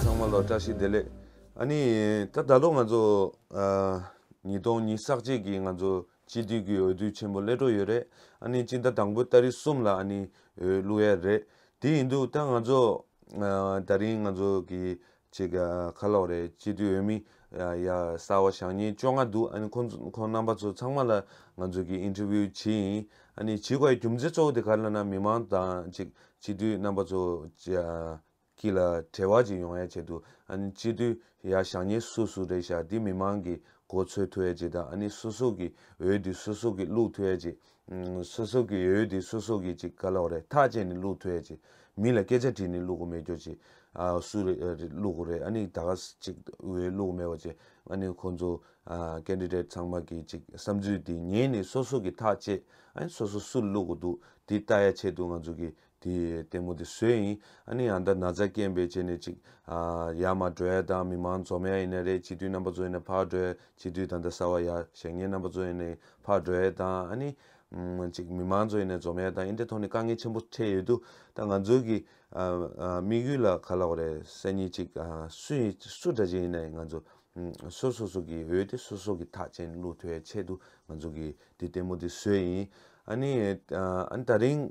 ཚང་མ་ལ་བཀྲ་ཤིས་བདེ་ལེགས། ཨ་ནི། ད་ད་ལོ་ང་ཚོ། ཉིས་སྟོང་ཉིས་བསགས་རྗེས་ཀྱི་ང་ཚོ་སྤྱི་འཐུས་ཀྱི་འོས་བསྡུ་ཆེན་པོ་སླེལ་འགྲོ་ཡོད་རེད། ཨ་ནི་སྤྱི་ཟླ་དང་པོའི་ལྟ་རི་གསུམ་ལ་ཨ་ནི་འོས་བླུགས་ཡ་རེད། དེ་ཡིན་དུས་ད་ང་ཚོ། ད་རིང་ང་ཚོ་གི་ཅིག་ཁ་ལོག་རེད་སྤྱི་འཐུས་འོས་མི། ཡ། གསར་བ་ཞག་གཉིས་བཅོ་ལྔ་འདུག་ཨ་ནི་ཁོ། ཁོང་རྣམ་པ་ཚོ་ཚང་མ་ལ་ང་ཚོ་གིས Interview བྱེད་ཡིན། ཨ་ནི་བྱེད་དགོས་ཡ་རྒྱུ་མཚན་གཙོ་བོ་དེ་ག་ལ་ན་མི་མང་དང་ཅིག་སྤྱི་འཐུས་རྣམ་པ་ཚོ། གྱི་ལ་བྲེལ་བ་ཅིག་ཡོང་ཡ་བྱེད་འདུག་ཨ་ནི་སྤྱི་འཐུས་ཡ་ཞག་གཉིས་སུ་སུ་རེད་ཞག་འདི་མི་མང་གིས་གོ་ཚོད་ཐུ་ཡ་བྱེད་དང་ཨ་ནི་སུ་སུ་གིས་འོས་འདི་སུ་སུ་གིས་བླུག་ཐུ་ཡ་བྱེད་སོ་སོ་གི་ཡོད་ཡོད་དེ་སོ་སོ་གི་ཅིག་ག་ལོག་རེད་ཐག་བཅད་ནས་བླུག་ཐུ་ཡ་ཅིག་མི་ལ་སྐད་ཆ་དྲིས་ནས་བླུག་གོ་མེད་ཀྱོ་ཅིག་སུ་རེད་བླུག་གོ་རེད་ཨ་ནི་ད་ག་ཅིག་འོས་བླུག་མེད་པ་ཅིག་ཨ་ནི་ཁོང་ཚོ Candidate ཚང་མ་གི་ཅིག་བསམ་ཚུལ་དེ་ཉན་ནས་སོ་སོ་གི་ཐག་བཅད་ཨ་ནི་སོ་སོ་སུ་བླུག་གོ་འདུག་དེ་ལྟ་ཡ་ཆེད་དུ་ང་ཚོ་གི་དེ་ལྟད་མོ་དེ་སུའི་ཡིན། ཨ་ནི་ཡང་ད་ན་ཚ་སྐྱེན་པའི་རྗེས་ནས་ཅིག། ཡ་མ་གྲོལ་དང་མི་མང་འཛོ་མའི་ཡིན་ན་རེད་སྤྱི་འཐུས་རྣམ་པ་ཚོ་ཡིན་ན་ཕར་གྲོལ་སྤྱི་འཐུས་ད་ལྟ་གསར་བ་ཡ་ཞེ་ངའི་རྣམ་པ་ཚོ་ཡིན་ནའི་ཕར་གྲོལ་དང་ཨ་ནི། ཅིག་མི་མང་ཚོ་ཡིན་ནའི་འཛོ་མའི་དང་ཨིན་ཏེ་ཐོག་ནས་དཀའ་ངལ་ཆེན་པོ་འཕྲད་ཡོད་དུ་ད་ང་ཚོའི་གི། དམིགས་ཡུལ་ལ་ག་ལ་བ་རེད་སེ་ནི་ཅིག་སུ་ཡིན་སུ་འདྲ་ཅིག་ཡིན་ནའི་ང་ཚོ། སོ་སོ་སོ་གི་འོས་ཏེ་སོ་སོ་གི་ཐག་ཅན་བླུག་ཐོའི་ཆེད་དུ་ང་ཚོ་གི་དེ་ལྟད་མོ་དེ་སུའི་ཡིན། ཨ་ནི། ཨ་ནི་ད་རིང།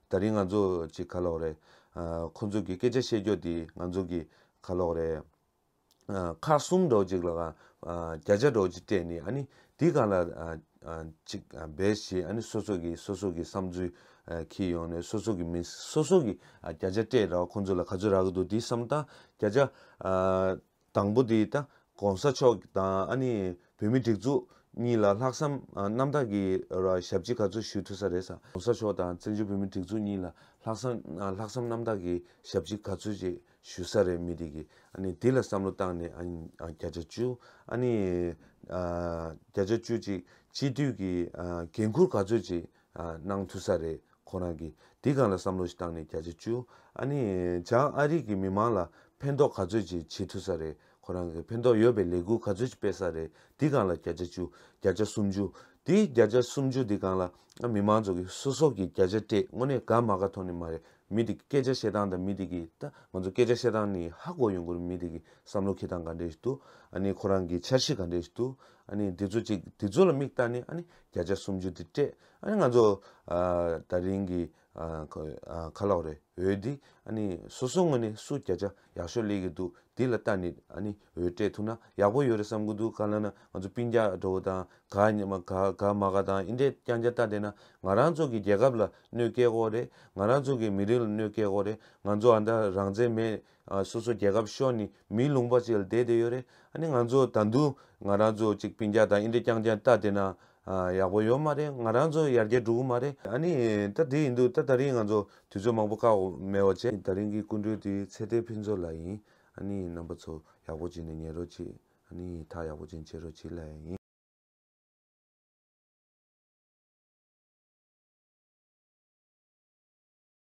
ད་རིང་ང་ཚོ་ཅིག་ཁ་ལོག་རེད། ཁོ་ཚོ་གི་སྐད་ཆ་བཤད་རྒྱོ་དེ་ང་ཚོ་གི་ཁ་ལོག་རེད། ཁག་གསུམ་འགྲོ་ཅིག་ལ་གང་བརྒྱ་ཆ་འགྲོ་ཅིག་སྤྲད་ནི་ཨ་ནི་དེ་གང་ལ་ཅིག་འབད་ཞེས་ཨ་ནི་སོ་སོ་གི་སོ་སོ་གི་བསམ་ཚུལ་ཁྱེར་ཡོང་ནས་སོ་སོ་གི་མི་སོ་སོ་གི་བརྒྱ་ཆ་སྤྲད་ར་བ་ཁོ་ཚོ་ལ་ག་ཚོད་རག་གི་འདུག་དེ་བསམ་སྟངས་བརྒྱ་ཆ། དང་པོ་དེ་ད་གོང་ས་མཆོག་དང་ཨ་ནི་བོད་མི་སྒྲིག་འཛུགས་གཉིས་ལ་ལྷག་བསམ་རྣམ་དག་གི་ཞབས་ཕྱི་ག་ཚོད་ཞུ་ཐུབ་ས་རེད་ས་གོང་ས་མཆོག་དང་བཙན་བྱོལ་བོད་མི་སྒྲིག་འཛུགས་གཉིས་ལ་ལྷག་བསམ་ལྷག་བསམ་རྣམ་དག་གི་ཞབས་ཕྱི་ག་ཚོད་ཅིག་ཞུ་ས་རེད་མི་དེ་གི་ཨ་ནི་དེ་ལ་བསམ་བློ་བཏང་ནས་ཨ་ནི་བརྒྱ་ཆ་བཅུ་ཨ་ནི་བརྒྱ་ཆ་བཅུ་ཅིག་སྤྱི་འཐུས་ཀྱི་འགན་འཁུར་ག་ཚོད་ཅིག་གནང་ཐུབ་ས་རེད་ཁོ་རང་གིས་དེ་ག་ལ་བསམ་བློ་ཞིག་བཏང་ནས་བརྒྱ་ཆ་བཅུ་ཨ་ནི་བྱང་ཨ་རིག་གི་མི་མང་ལ་ཕན་ཐོག་ག་ཚོད་ཅིག་བྱེད་ཐུབ་ས་རེད་ཁོ་རང་གིས་ཕན་ཐོག་ཡོད་པའི་ལས་འགུལ་ག་ཚོད་ཅིག་སྤེལ་ས་རེད་དེ་གང་ལ་བརྒྱ་ཆ་བཅུ་བརྒྱ་ཆ་སུམ་ཅུ་དེ་བརྒྱ་ཆ་སུམ་ཅུ་དེ་གང་ལ་ཨ་མི་མང་ཚོ་གི་སོ་སོ་གིས་བརྒྱ་ཆ་སྤྲད་དངོས་གནས་དགའ་མ་ག་ཐོག་ནས་མ་རེད་མི་དེ་གི་སྐད་ཆ་བཤད་སྟངས་དང་མི་དེ་གི་ད་ང་ཚོ་སྐད་ཆ་བཤད་སྟངས་ནི་ཧ་གོ་ཡོང་དགོས་རེད་མི་དེ་གི་བསམ་བློ་ཁེ་སྟངས་ག་འདྲས་ཞིག་འདུག་ཨ་ནི་ཁོ་རང་གི་འཆར་གཞི་ག་འདྲས་ཞིག་འདུག་ཨ་ནི་དེ་ཚོ་ཅིག་དེ་ཚོ་ལ་མིག་བལྟ་ནས་ཨ་ནི་བརྒྱ་ཆ་སུམ་ཅུ་དེ་སྤྲད་ཨ་ནི་ང་ཚོ་ད་རིང་གི་ཁ་ལོག་རེ་འོས་འདི་ཨ་ནི་སོ་སོ་ངོས་ནས་སུ་བརྒྱ་ཆ་ཡག་ཤོས་ལས་ཀྱི་འདུག་འདི་ལ་ལྟ་ནི་ཨ་ནི་འོས་སྤྲད་ཐུབ་ན་ཡག་པོ་ཡོད་རེ་བསམ་གི་འདུག་ག་ལ་ན་ང་ཚོ་པིན་རྒྱ་འགྲོ་བོ་དང་ག་ཉི་མ་ག་ག་མ་ག་དང་ཨིན་དྲས་ཀྱང་རྒྱ་ལྟ་བསྡད་ན་ང་རང་ཚོ་གི་རྒྱལ་ཁབ་ལ་གནོད་སྐྱེལ་དགོ་རེད་ང་རང་ཚོ་གི་མི་རིགས་ལ་གནོད་སྐྱེལ་དགོ་རེད་ང་ཚོ་ཨ་མདའ་རང་བཙན་མེད་སོ་སོ་རྒྱལ་ཁབ་ཤོར་ནི་མིའི་ལུང་པ་ཅིག་ལ་བསྡད་བསྡད་ཡོད་རེད་ཨ་ནི་ང་ཚོ་ད་འདུག་ང་རང་ཚོ་ཅིག་པིན་རྒྱ་དང་ཨིན་རི་རྐྱང་རྐྱང་ལྟ་བསྡད་ན་ཡག་པོ་ཡོད་མ་རེད་ང་རང་ཚོ་ཡར་རྒྱས་འགྲོ་གི་མ་རེད་ཨ་ནི་ད་དེ་ཡིན་འདུག་ད་ད་རིང་ང་ཚོ་དུས་ཚོད་མང་པོ་བཀག་འོག་མེད་བ་བྱས། ད་རིང་གི་སྐུ་མགྲོན་དེ་ཚེ་བརྟན་ཕུན་ཚོགས་ལགས་ཡིན་ཨ་ནི་རྣམ་པ་ཚོ་ཡག་པོ་བྱས་ནས་ཉན་རོགས་གྱིས་ཨ་ནི་ཐག་ཡག་པོ་ཅན་བྱེད་རོགས་གྱིས་ལ་ཡིན།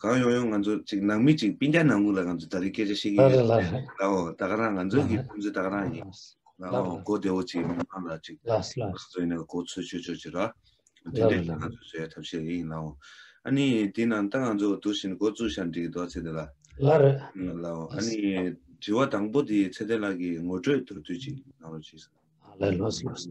གང་ཡོང་ཡོང་ང་ཚོ་ཅིག་ནང་མི་ཅིག་སྤིན་རྒྱ་ནང་ཁུག་ལ་ང་ཚོ་ད་རིག་སྐད་ཆ་བཤད་ཀྱི་ཡོད་ལའོ་ད་ག་རང་ང་ཚོ་གི་ཁོང་ཚོ་ད་ག་རང་ཡིན་ལའོ་གོ་བདེ་བོ་ཅིག་མི་མང་ལ་ཅིག་ང་ཚོ་ཡིན་ན་གོ་ཚོད་ཆོད་ཆོད་ཅིག་ར་དེ་འདྲ་ང་ཚོ་བཟོ་ཡ་ཐབས་ཤེས་རེ་ཡིན་ལའོ་ཨ་ནི་དེ་ནང་ལྟ་ང་ཚོ་དུ་བཞིན་གོ་བཙུགས་ཤར་འགྲིག་གི་འདུག་ཚེ་འདི་ལ་ལའོ་ཨ་ནི་དྲི་བ་དང་པོ་དེ་ཚེ་འདི་ལ་གི་ངོ་སྤྲོད་དུར་དུས་ཅིག་ང་རོ་ཅིག་ལ་ལ་ལོ་སོ་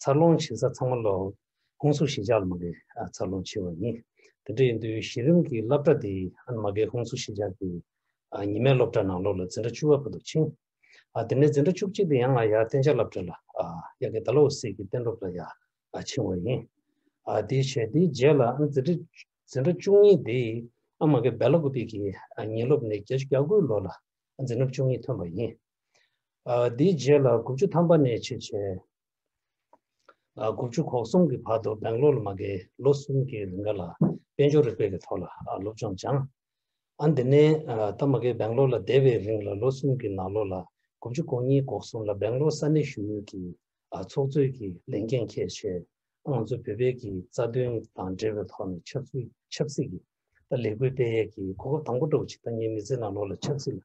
འཚར་ལོངས་བྱེད་ས་ཚང་མ་ལ་ཧུང་སུ་ཞི་ཇག་ལ་མ་འགལ་འཚར་ལོངས་བྱས་བ་ཡིན། དེ་འདྲ་ཡིན་དུས་གཞི་རིམ་གྱི་སློབ་གྲྭ་དེ་མ་འགལ་ཧུང་སུ་ཞི་ཇག་གི་ཉི་མའི་སློབ་གྲྭ་ནང་ལོ་ལ་འཛིན་གྲྭ་བཅུ་བ་བོད་དུ་ཕྱིན། དེ་ནས་འཛིན་གྲྭ་བཅུ་གཅིག་དེ་ཡང་ང་ཡ་བསྟན་བྱ་སླབ་གྲྭ་ལ་ཡ་གི་ད་ལོ་བོད་སིལ་གྱི་བསྟན་སློབ་ལ་ཡ་ཕྱིན་བ་ཡིན། དེའི་ཕྱེད་དེའི་རྗེས་ལ་འཛིན་གྲྭ་འཛིན་གྲྭ་བཅུ་གཉིས་དེ་མ་འགལ་བལ་ལ་གུ་པེ་གི་ཉིན་སློབ་ནས་བརྒྱ་ཆུ་གྱ་དགུའི་ལོ་ལ་འཛིན་གྲྭ་བཅུ་གཉིས་ཐོན་པ་ཡིན། དེའི་རྗེས་ལ་དགུ་བཅུ་ཐམ་པ་ནས་ཕྱིར་ཕྱིན། དགུ་བཅུ་གོ་གསུམ་གྱི་བར་དུ་སྦེང་ལོར་ལ་མ་བརྒལ་ལོ་གསུམ་གྱི་རིང་ག་ལ་དཔལ་འབྱོར་རིག་པའི་གི་ཐོག་ལ་སློབ་སྦྱོང་སྦྱངས། ཨ་འདི་ནས་ད་མ་བརྒལ་སྦེང་ལོར་ལ་བསྡད་པའི་རིང་ལ་ལོ་གསུམ་གྱི་ནང་ལོ་ལ་དགུ་བཅུ་གོ་གཉིས་གོ་གསུམ་ལ་སྦེང་ལོར་ས་གནས་ཞུ་ཡུལ་གྱི་ཚོགས་གཙོའི་གི་ལས་འགན་ཁྱད་ཆེ་ང་ཚོ་བོད་པའི་གི་རྩ་དོན་དང་འབྲེལ་བའི་ཐོག་ནས་ཆབ་སྲིད་ཆབ་སྲིད་གི་ལས་འགུལ་སྤེལ་ཡས་གི་གོ་སྐབས་དང་པོ་སྒྲོག་བྱེད་ཐ་སྙད་མི་ཚེ་ནང་ལོ་ལ་ཆབ་སྲིད་ལ་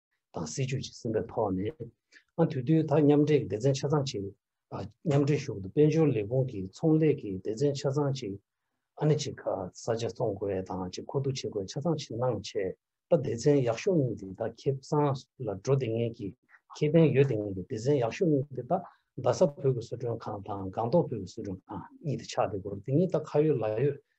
དང་སྲིད་ཇུས་ཀྱི་སེམས་པའི་ཐོག་ནས། དུས་བསྟུན་དག་མཉམ་འབྲེལ་སྡེ་ཚན་ཆ་ཚང་གཅིག་མཉམ་འབྲེལ་ཞུགས་འདུ་དཔལ་འབྱོར་ལས་ཁུངས་ཀྱི་ཚོང་ལས་ཀྱི་སྡེ་ཚན་ཆ་ཚང་གཅིག་ཨ་ནེ་གཅིག་ག་ས་ཆ་ཚོང་དགོས་དང་གཅིག་མཁོ་བསྡུ་བྱེད་དགོས་ཆ་ཚང་གཅིག་གནང་ཆེད་པ་སྡེ་ཚན་ཡག་ཤོས་གཉིས་དེ་དག་ཁེ་བཟང་ལ་འགྲོ་དེ་ངེས་ཀྱི་ཁེ་ཕན་ཡོད་དེ་ངེས་ཀྱི་སྡེ་ཚན་ཡག་ཤོས་གཉིས་དེ་དག་རྡ་ས་བོད་ཀྱི་བཟོ་སྐྲུན་ཁང་དང་སྒང་ཏོག་བོད་ཀྱི་བཟོ་སྐྲུན་ཁང་གཉིས་དེ་ཆགས་དེ་སྐོར་དེ་གཉིས་དག་ཁ་ཡོད་ལག་ཡོད་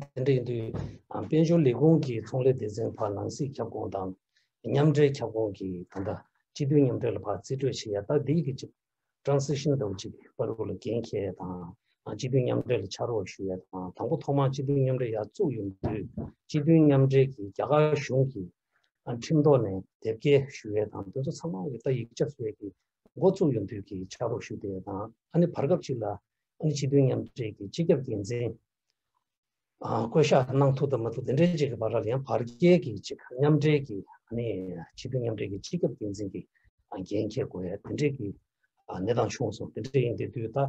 དེ་འདྲ་ཡིན་དུས་དཔལ་འབྱོར་ལས་ཁུངས་ཀྱི་ཚོང་ལས་སྡེ་ཚན་བར་ནང་སྲིད་ཁྱབ་ཁོངས་དང་མཉམ་འབྲེལ་ཁྱབ་ཁོངས་ཀྱི་ད་ལྟ་སྤྱི་མཐུན་མཉམ་འབྲེལ་བར་རྩིས་སྤྲོད་བྱེད་ཡ་ད་ལྡི་ལི་ཅིབ་ཀྲང་སི་ཤིན་ཏའུ་ཅིབ་པར་རུ་ལ་འགན་འཁྱེར་ཡ་དང་སྤྱི་མཐུན་མཉམ་འབྲེལ་ལ་ཕྱག་རོགས་ཞུ་ཡ་དང་དང་པོ་ཐོག་མར་སྤྱི་མཐུན་མཉམ་འབྲེལ་ཡར་བཙུགས་ཡོང་དུས་སྤྱི་མཐུན་མཉམ་འབྲེལ་གྱི་རྒྱ་གར་གཞུང་གི་ཁྲིམས་ཐོག་ནས་དེབ་སྐྱེལ་ཞུ་ཡ་དང་དེ་ཚོ་ཚང་མ་ཡ་ད་ཡིག་ཆ་བཟོས་ཀྱི་འགོ་བཙུགས་ཡོང་དུས་ཀྱི་ཕྱག་རོགས་ཞུ་དེ་དང་ཨ་ནི་བར་སྐབས་ཅིག་ལ་ཨ་ནི་སྤྱི་མཐུན་མཉམ་འབྲེལ་གྱི་སྤྱི་ཁྱབ་འགན་འཛིན་བསྐོ་བཞག་གནང་ཐུབ་ཐབས་མ་ཐུབ་དེ་འདྲའི་གཅིག་གི་བར་ལ་ཡང་བར་བརྒལ་གྱི་གཅིག་མཉམ་འབྲེལ་གྱི་ཨ་ནི་སྤྱི་མཐུན་མཉམ་འབྲེལ་གྱི་སྤྱི་ཁྱབ་འགན་འཛིན་གྱི་འགན་འཁྱེར་དགོས་ཡ་དེ་འདྲའི་གི་གནས་སྟངས་བྱུང་སོང་དེ་འདྲའི་ཡིན་དེ་དུས་ད་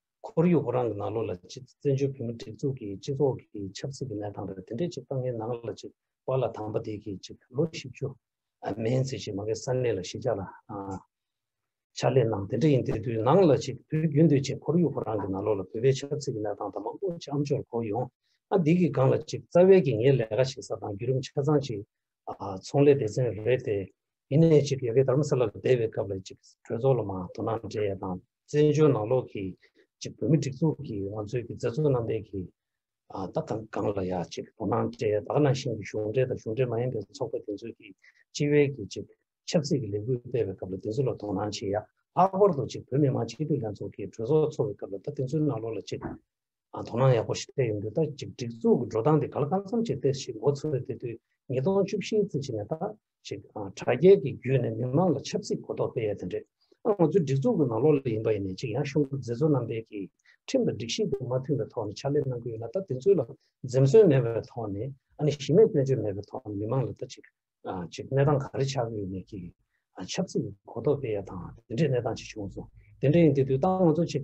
ཁོར་ཡུག་བོད་རང་གི་ནང་ལོགས་ལ་གཅིག་བཙན་བྱོལ་བོད་མི་སྒྲིག་འཛུགས་ཀྱི་སྤྱི་ཚོགས་ཀྱི་ཆབ་སྲིད་ཀྱི་གནས་སྟངས་རེད་དེ་འདྲས་གཅིག་དཔང་ངའི་ནང་ལ་གཅིག་བར་ལ་དང་པ་དེ་གིས་གཅིག་ལོ་བཞི་བཅུ་མན་ཚེ་གཅིག་མ་གའི་ས་གནས་ལ་གཞིས་ཆགས་ལ་ཕྱག་ལས་གནང་དེ་འདྲས་ཡིན་དེ་དུས་ནང་ལ་གཅིག་བོད་བརྒྱུད་འདོད་ཆེ་ཁོར་ཡུག་བོད་རང་གི་ནང་ལོགས་ལ་བོད་པའི་ཆབ་སྲིད་ཀྱི་གནས་སྟངས་དང་མང་པོ་ཅི་ཨམ་ཅོར་གོ་ཡོང་ཨ་འདི་གི་སྒང་ལ་གཅིག་རྩ་བའི་གིས་ངའི་ལས་ཀ་བྱེད་ས་དང་བརྒྱུད་རིམ་ཆ་ཚང་གཅིག་ཚོང་ལས་སྡེ་ཚན་རེད་དེ་ཡིན་ནས་གཅིག་ཡ་གི་དར་མ་ས་ལ་བསྡད་པའི་སྐབས་ལ་གཅིག་གྲོས་ཚོགས་ལ་མང་དོ་སྣང་འདྲས་ཡ་དང། བཙན་བྱོལ་ནང་ལོགས་ཀྱི་ཅིག་བོད་མི་སྒྲིག་འཛུགས་ཀྱི་ང་ཚོའི་གི་མཛད་གཙོ་རྣམ་པའི་གི་ད་གང་གང་ལ་ཡ་ཅིག་དོ་སྣང་སྤྲད་ད་ག་ནང་བཞིན་གྱི་གཞུང་འབྲེལ་དང་གཞུང་འབྲེལ་མ་ཡིན་པའི་ཚོགས་པ་དེ་ཚོའི་གི་སྤྱི་བའི་གི་ཅིག་ཆབ་སྲིད་ཀྱི་ལས་འགུལ་སྤེལ་བའི་སྐབས་ལ་དེ་ཚོ་ལ་དོ་སྣང་བྱེད་ཡ་ལྷག་པར་དུ་ཅིག་བོད་མི་མང་སྤྱི་འཐུས་ལྷན་ཚོགས་ཀྱི་གྲོས་ཚོགས་འཚོགས་བའི་སྐབས་ལ་ད་དེ་ཚོའི་ནང་ལོགས་ལ་ཅིག་དོ་སྣང་ཡག་པོ་ཞིག་སྤྲད་ཡོང་དུས་ད་ཅིག་སྒྲིག་འཛུགས་གི་འགྲོ་སྟངས་དེ་ག་ལ་གང་འཚམ་ཅིག་སྟེ་ཞིག་མགོ་ཚོས་དེ་དུས་ཉིས་སྟོང་བཅུ་བཞིའི་ཚེ་ཕྱི་ནས་ད་ཅེས་དྲ་རྒྱའི་གི་བརྒྱུད་ནས་མི་མང་ལ་ཆབ་སྲིད་གོ་རྟོགས་སྤེལ་ཡས་དེ་འདྲས་ང་ཚོའི་སྒྲིག་འཛུགས་ཀྱི་ནང་ལོག་ལས་ཡིན་པ་ཡིན་ནས་ཅིག་ཡང་གཞུང་གི་མཛད་གཙོ་རྣམ་པས་གི་ཁྲིམས་དང་སྒྲིག་གཞི་དེ་མ་མཐུན་པའི་ཐོག་ནས་ཕྱག་ལས་གནང་གི་ཡོད་ན་ད་དེ་ཚོའི་ལ་འཛེམ་ཟོན་མེད་པའི་ཐོག་ནས་ཨ་ནི་གཞི་མེད་སྐྱོན་བརྗོད་མེད་པའི་ཐོག་ནས་མི་མང་ལ་ད་ཅིག་ཅིག་གནས་སྟངས་ག་རེ་ཆགས་གི་ཡོད་མེད་གི་ཆབ་སྲིད་གོ་རྟོགས་སྤེལ་ཡས་དང་དེ་འདྲས་གནས་སྟངས་ཅིག་བྱུང་སོང་དེ་འདྲས་ཡིན་དེ་དུས་ད་ང་ཚོ་ཅིག་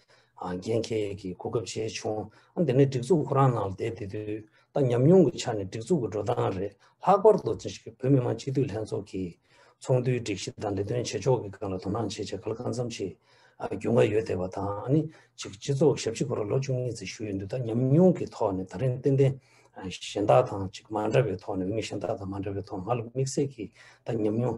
འགན་ཁྱེད་ཀྱིས་གོ་སྐབས་བྱས་བྱུང། འདི་ནི་སྒྲིག་འཛུགས་ཁོ་རང་ནང་བསྡད་དེ་དུས་ད་ཉམས་མྱོང་གི་ཆ་ནས་སྒྲིག་འཛུགས་ཀྱི་འགྲོ་སྟངས་རེད། ལྷག་པར་དུ་བོད་མི་མང་སྤྱི་འཐུས་ལྷན་ཚོགས་ཀྱིས་ཚོགས་འདུའི་སྒྲིག་གཞི་དང་ལས་དོན་བྱེད་ཕྱོགས་ཀྱི་སྐབས་ལ་དོ་སྣང་བྱེད་ཆེད་ག་ལ་གང་འཚམ་ཞིག་རྒྱུས་མངའ་ཡོད་བསྡད་པ་དང་ནི། སྤྱི་ཚོགས་ཞབས་ཕྱི་སྐོར་ལ་ལོ་བཅུ་གཉིས་ཙམ་ཞུགས་ཡོད་དུས་ད་ཉམས་མྱོང་གི་ཐོག་ནས་ད་རིང་ཏན་ཏན་གཞན་དག་དང་མ་འདྲ་བའི་ཐོག་ནས་འོས་མི་གཞན་དག་དང་མ་འདྲ་བའི་ཐོག་ང་ལ་དམིགས་བསལ་གྱིས་ད་ཉམས་མྱོང་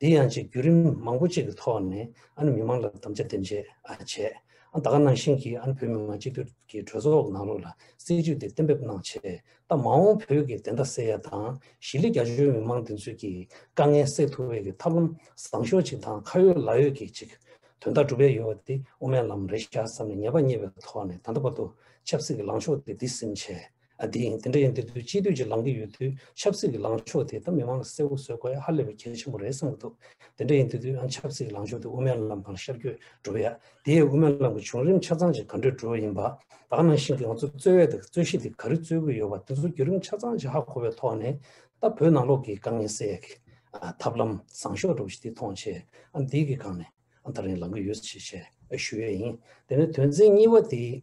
དེ་ཡང་ཆེས་བརྒྱུད་རིམ་མང་པོ་གཅིག་གི་ཐོག་ནས་ཨ་ནི་མི་མང་ལ་དམ་བཅའ་འདེམས་བྱེད་བྱས། ད་ཁ་ནང་བཞིན་གྱི་ཨ་ནི་བོད་མི་མང་སྤྱི་འཐུས་ཀྱི་གྲོས་ཚོགས་ནང་ལོགས་ལ་སྲིད་བྱུས་དེ་གཏན་འབེབས་གནང་ཆེད་ད་མ་འོངས་བོད་ཀྱི་བདེན་མཐའ་གསལ་ཡ་དང་ཞི་ལི་རྒྱ་ཆོའི་མི་མང་བདེན་འཚོལ་གྱི་དཀའ་ངལ་སེལ་ཐུབ་བའི་གི་ཐབས་ལམ་བཟང་ཤོས་གཅིག་དང་ཁ་ཡོད་ལག་ཡོད་ཀྱི་ཅིག་དོན་དག་སྒྲུབ་ཡ་ཡོད་པ་དེ་དབུ་མའི་ལམ་རེད་ཤག་བསམ་ནས་ཉེས་པ་རྙེད་པའི་ཐོག་ནས་ད་ལྟ་བར་དུ་ཆབ་སྲིད་ཀྱི་ལངས་ཕྱོགས་དེ་འདི་སིམ་བྱས། ཨ་དེ་ཡིན་དེ་འདྲ་ཡིན་དེ་དུས་སྤྱི་འཐུས་ཀྱི་ལངས་ཀྱི་ཡོད་དུས་ཆབ་སྲིད་ཀྱི་ལངས་ཕྱོགས་དེ་ད་མི་མང་ལ་གསལ་བོ་བཟོས་དགོས་ཡ་ཧ་ལས་པའི་གལ་ཆེན་པོ་རེད་བསམ་གྱི་འདུག་དེ་འདྲ་ཡིན་དེ་དུས་ཨ་ཆབ་སྲིད་ཀྱི་ལངས་ཕྱོགས་དེ་དབུ་མའི་ལམ་དང་ཤར་བསྐྱོད་འགྲོ་བ་ཡ་དེ་ཡས་དབུ་མའི་ལམ་གྱི་བྱུང་རིམ་ཆ་ཚང་ཅིག་ག་འདྲས་འགྲོ་བ་ཡིན་པ་ད་ག་ནང་བཞིན་གྱི་ང་ཚོ་རྩོད་བས་དང་རྩོད་གཞི་དེ་ག་རེ་རྩོད་གི་ཡོད་པ་དེ་ཚོ་བརྒྱུད་རིམ་ཆ་ཚང་ཅིག་ཧ་གོ་བའི་ཐོག་ནས་ད་བོད་ནང་ལོག་གི་དཀའ་ངལ་སེལ་ཡ་གི་ཐབས་ལམ་བཟང་ཤོས་འགྲོ་བ་ཞིག་དེ་མཐོང་ཆེད་ཨ་འདི་གི་སྒང་ནས་ཨ་ད་རིང་ལངས་ཀྱི་ཡོད་ཞེས་བཤད་ཞུ་ཡས་ཡིན་དེ་ནས་དོན་ཚན་གཉིས་པ་དེ།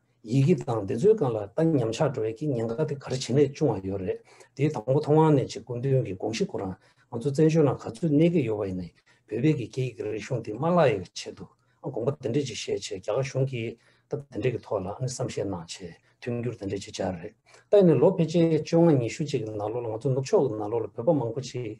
ཡི་གེ་དང་འདི་ཚོའི་སྒང་ལ་ལྟ་ཉམས་ཆག་འགྲོ་བའི་ཀྱི་ཉེན་ཁ་དེ་ག་རེ་བྱེད་ནས་བྱུང་བ་ཡོད་རེད་དེ་དང་པོ་ཐོ་ཝང་ནས་ཆེ་དགོན་དོན་གྱི་དགོངས་གཞི་སྐོར་རང་ང་ཚོ་བཙན་བྱོལ་ནང་ག་ཚོད་གནས་ཀྱི་ཡོད་པ་ཡིན་ནའི་བོད་པའི་ཀྱི་སྐད་ཡིག་རིག་གཞུང་དེ་མ་ལག་ཡག་གི་ཆེད་དུ་ཨ་དགོངས་པ་དེ་འདྲས་ཅིག་བཞེས་ཆེད་རྒྱ་གར་གཞུང་གིས་སྟབས་དེ་འདྲས་ཀྱི་ཐོག་ལ་ཨ་ནི་བསམ་ཤེས་གནང་ཆེད་མཐུན་འགྱུར་དེ་འདྲས་ཅིག་བྱས་རེད་ལྟ་ཡིན་ནའི་ལོ་ཕལ་ཆེར་བཅོ་ལྔ་ཉི་ཤུ་ཅིག་གི་ནང་ལོ་ལ་ང་ཚོ་ནུབ་ཕྱོགས་ཀྱི་ནང་ལོ་ལ་བོད་པ་མང་པོ་ཅིག་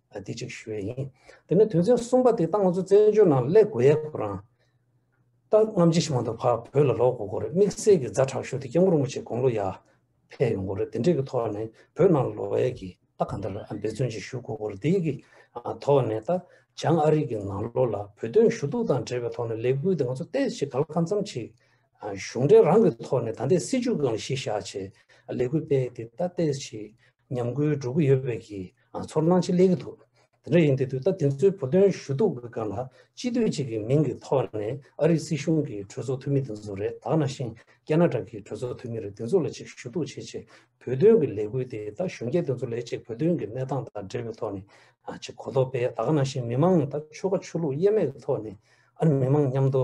དེ་གཅིག་ཞུ་ཡས་ཡིན། དེ་ནས་དོན་ཚན་གསུམ་པ་དེ་ལྟ་ང་ཚོ་བཙན་བྱོལ་ནང་ཀླད་གོ་ཡས་ཁོ་རང། ད་རྔམ་བརྗིད་ཞིག་མ་འདུག་ཕ་བོད་ལ་ལོག་དགོས་དགོས་རེད་དམིགས་བསལ་གྱི་རྫ་དྲག་ཤོས་དེ་སྐྱེ་འགོར་མོ་ཆེ་དགོང་ལོ་ཡར། ཕེབས་ཡོང་དགོས་རེད་དེ་འདྲས་ཀྱི་ཐོག་ནས་བོད་ནང་ལ་ལོག་ཡས་ཀྱི་ད་ག་འདྲ་འབད་བརྩོན་ཅིག་ཞུ་དགོས་དགོས་རེད་དེ་ཡིག་གི་ཐོག་ནས་ད་བྱང་ཨ་རིག་གི་ནང་ལོག་ལ་བོད་དོན་ཞུ་གཏུག་དང་འབྲེལ་བའི་ཐོག་ནས་ལས་འགུལ་དེ་ང་ཚོ་བལྟས་ཤིག་ག་ལ་གང་འཚམ་ཅིག། གཞུང་འབྲེལ་རང་གི་ཐོག་ནས་ད་ལྟའི་སྲིད་བྱུས་གང་ལ་གཞི་བཞག་ཆེད་ལས་འགུལ་སྤེལ་ཡས་དེ་ད་བལྟས་ཤིག་ཉམས་རྒུད་སྒྲོ་གུ་ཡོད་པའི་གི་ཚོར་སྣང་ཆེ་ལེགས་ཀྱི་འདུག་དེ་འདྲ་ཡིན་དུས་དུས་ད་དེ་ཚོའི་བུ་སྟོན་ཞུ་གཏུག་གི་སྒང་ལ་སྤྱི་འཐུས་གཅིག་གི་མིང་གི་ཐོག་ནས་ཨ་རིའི་སྲིད་གཞུང་གི་གྲོས་ཚོགས་འཐུས་མི་དེ་ཚོ་རེད་དག་ན་ཤིང་ཀ་ན་གྲ་གི་གྲོས་ཚོགས་འཐུས་མི་རེད་དེ་ཚོ་ལ་ཅིག་ཞུ་གཏུག་བྱེད་ཆེད་བོད་དོན་གི་ལས་འགུལ་དེ་ད་གཞོན་སྐྱེས་དེ་ཚོ་ལས་ཅིག་བོད་དོན་གི་གནས་སྟངས་དང་འབྲེལ་བའི་ཐོག་ནས་ཅིག་གོ་རྟོགས་སྤེལ་དག་ན་ཤིང་མི་མང་ནས་ད་ཆོལ་ཁ་ཆོས་ལུགས་དབྱེ་མེད་གི་ཐོག་ནས་ཨ་རི་མི་མང་མཉམ་དུ་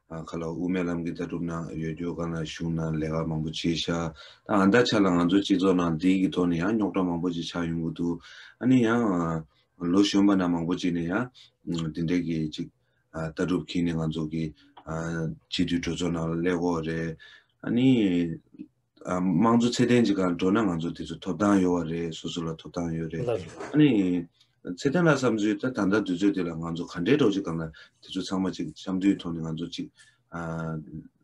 ག་ལ་དབུ་མའི་ལམ་གྱི་ལྟ་གྲུབ་ནང་ཡོད་རྒྱུ་གང་ལ་ཞུགས་ན་ལས་ཀ་མང་པོ་བྱེད་ཤག་ད་ང་ད་ཆ་ལ་ང་ཚོ་སྤྱི་ཚོགས་ནང་དེའི་གི་ཐོག་ནས་ཡང་རྙོག་གྲ་མང་པོ་ཅིག་ཆགས་ཡོང་གི་འདུག་ཨ་ནི་ཡང་ལོ་གཞོན་པ་ན་མང་པོ་ཅིག་ནས་ཡང་དེ་འདྲའི་གི་ཅིག་ལྟ་གྲུབ་ཁྱེར་ནས་ང་ཚོ་གི་སྤྱི་འཐུས་གྲོས་ཚོགས་ནང་ལ་སླེབས་འོག་རེད་ཨ་ནི། དམངས་གཙོ་ཚད་ལྡན་གྱི་ཁར་འགྲོ་ན་ང་ཚོ་དེ་ཚོ་ཐོབ་ཐང་ཡོད་བ་རེད་སོ་སོ་ལ་ཐོབ་ཐང་ཡོད་རེད་ཨ་ནི། ཚད་ལྡན་ལ་བསམ་ཚུལ་ད་ད་ལྟ་དུས་ཚོད་འདི་ལ་ང་ཚོ་ག་འདྲའི་འགྲོ་ཅི་གང་ལ་དེ་ཚོ་ཚང་མ་ཅིག་གཤམ་དུའི་ཐོག་ནས་ང་ཚོ་ཅིག།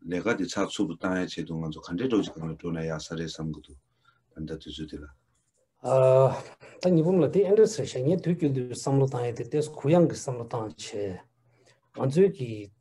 ལས་ཀ་དེ་ཚགས་ཚུབ་བཏང་ཡ་ཆེད་དུ་ང་ཚོ་ག་འདྲའི་འགྲོ་ཅི་གང་ལ་འགྲོ་ན་ཡག་ས་རེད་བསམ་གི་འདུག་ད་ལྟ་དུས་ཚོད་འདི་ལ། ད་ཉི་འབུམ་ལ་དེ་ཨེ་འདྲ་ཟེར་ཤག་ངས་དུས་རྒྱུན་དུ་བསམ་བློ་བཏང་ཡ་དེ་ལྟས་སུ་གུ་ཡངས་ཀྱི་བསམ་བློ་བཏང་བྱས། ང་ཚོའི་གི་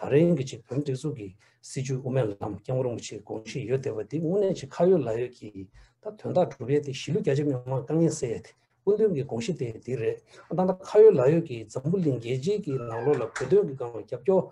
ད་རེང་གི་ཆེད་དོན་སྒྲིག་འཛུགས་ཀྱི་སྲིད་ཇུས་དབུ་མའི་ལམ་སྐྱབས་མགོན་རིན་པོ་ཆེའི་དགོངས་བཞེད་ཡོད་བསྡད་པ་དེ་དངོས་གནས་ཆེས་ཁ་ཡོད་ལག་ཡོད་ཀྱིས་ད་དོན་དག་སྒྲུབ་ཡས་དེ་གཞིས་ལུས་རྒྱ་ཆེ་མི་མང་དཀའ་ངལ་སེལ་ཡས་དེ་སྐུ་མདུན་གྱི་དགོངས་བཞེད་དེ་དེ་རེད་ཨ་ད་ལྟ་ཁ་ཡོད་ལག་ཡོད་ཀྱིས་འཛམ་བུ་གླིང་རྒྱལ་སྤྱིའི་གྱི་ནང་ལོགས་ལ་བོད་དོན་གྱི་སྒང་ལ་རྒྱབ་སྐྱོར་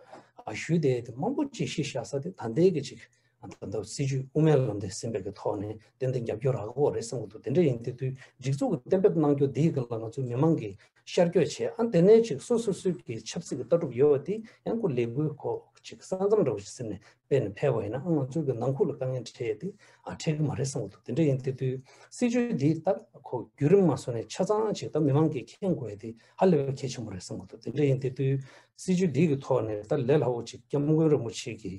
ཞུས་བསྡད་དེ་མང་པོ་ཅིག་གཞི་བཞག་ས་དེ་ད་ལྟའི་གི་ཆེད་ད་ལྟ་སྲིད་ཇུས་དབུ་མའི་ལམ་དེ་སེམས་འབེབས་ཀྱི་ཐོག་ནས་ཏན་ཏན་རྒྱབ་སྐྱོར་རག་གོ་རེད་བསམ་གྱི་འདུག་དེ་འདྲ་ཡིན་དེ་དུས་སྒྲིག་འཛུགས་ཀྱི་གཏན་འབེབས་གནང་རྒྱུ་འདི་ཡི་ལ་ང་ཚོའི་མི་མང་གིས་ཤར་བསྐྱོད་བྱེད་ཨང་དེ་ནས་ཅིག་སོ་སོ་སོའི་གི་ཆབ་སྲིད་ཀྱི་ལྟ་གྲུབ་ཡོད་པ་དེ་ཡང་སྐུ་ལས་འགུལ་ཁོ་ཅིག་ས་མཚམས་འདྲ་བོ་ཞིག་ཟེར་ནས་སྤེལ་ནས་ཕེབས་པ་ཡིན་ན་ཨང་ང་ཚོའི་གི་ནང་ཁུག་ལ་དཀའ་ངལ་འཕྲད་ཡོད་དེ་ཨང་འཕྲད་གི་མ་རེད་བསམ་གྱི་འདུག་དེ་འདྲ་ཡིན་དེ་དུས་སྲིད་ཇུས་འདི་ལྟ་ཁོ་བརྒྱུད་རིམ་མ་བཟོ་ནས་ཆ་ཚང་ཅིག་ད་མི་མང་གིས་མཁྱེན་དགོས་དེ་ཧ་ལས་པའི་གལ་ཆེན་པོ་རེད་བསམ་གྱི་འདུག་དེ་འདྲ་ཡིན་དེ་དུས་སྲིད་ཇུས་འདི་ཡི་ཐོག་ནས་ད་ལས་སླ་བོ་ཅིག་སྐྱབས་མགོན་རིན་པོ་ཆེ་གིས་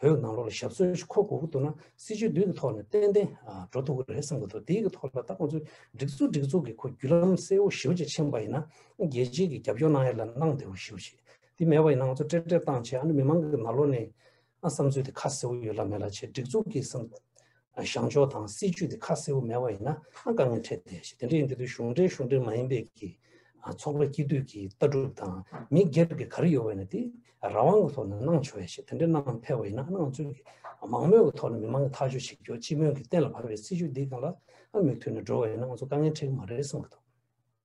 བོད་ནང་ལོག་ལ་ཞབས་སོན་ཞིག་འཁོར་དགོས་ཀྱི་འདུག་ན་སྲིད་ཇུས་བསྡུས་ཀྱི་ཐོག་ནས་ཏན་ཏན་འགྲོ་ཐུབ་ཀྱི་རེད་བསམ་གྱི་འདུག་དེའི་གྱི་ཐོག་ལ་ད་ཁོང་ཚོས་སྒྲིག་འཛུགས་སྒྲིག་འཛུགས་ཀྱི་ཁོ་བརྒྱུད་ལམ་གསལ་བོ་ཞིབ་ཅིག་ཕྱིན་པ་ཡིན་ན་རྒྱལ་སྤྱིའི་གྱི་རྒྱབ་སྐྱོར་གནང་ཡས་ལ་གནང་བདེ་བོ་ཞིབ་ཅིག་དེ་མེད་པ་ཡིན་ན་ང་ཚོ་སྤྲེལ་སྤྲེལ་བཏང་བྱས་ཨ་ནུ་མི་མང་གི་ནང་ལོག་ནས་བསམ་ཚུལ་དེ་ཁ་གསལ་བོ་ཡོད་ལ་མེད་ལ་བྱས་སྒྲིག་འཛུགས་ཀྱི་བསམ། བྱང་ཕྱོགས་དང་སྲིད་ཇུས་དེ་ཁ་གསལ་བོ་མེད་པ་ཡིན་ན་དཀའ་ངལ་འཕྲད་དེ་དེ་འདྲ་ཡིན་དུས་གཞུང་འབྲེལ་གཞུང་འབྲེལ་མ་ཡིན་པའི་གི་ཚོགས་པའི་སྐྱིད་སྡུག་གི་ལྟ་གྲུབ་དང་མི་སྒེར་གི་ག་རེ་ཡོད་བས་ན་དེ་རང་དབང་གི་ཐོག་ནས་གནང་ཆོག་ཡས་དེ་འདྲ་གནང་ཕལ་བ་ཡིན་ན་ནང་ཚུད་ཀྱི་མང་མོས་ཀྱི་ཐོག་ནས་མི་མང་གི་ཐག་གཅོད་བྱེད་རྒྱུ་སྤྱི་མོས་ཀྱི་གཏན་ལ་ཕབ་པའི་སྲིད་ཇུས་འདི་གང་ལ་མིག་མཐུན་ནས་འགྲོ་བ་ཡིན་ན་ང་ཚོ་དཀའ་ངལ་འཕྲད་ཀྱི་མ་རེད་བསམ་གྱི་འདུག།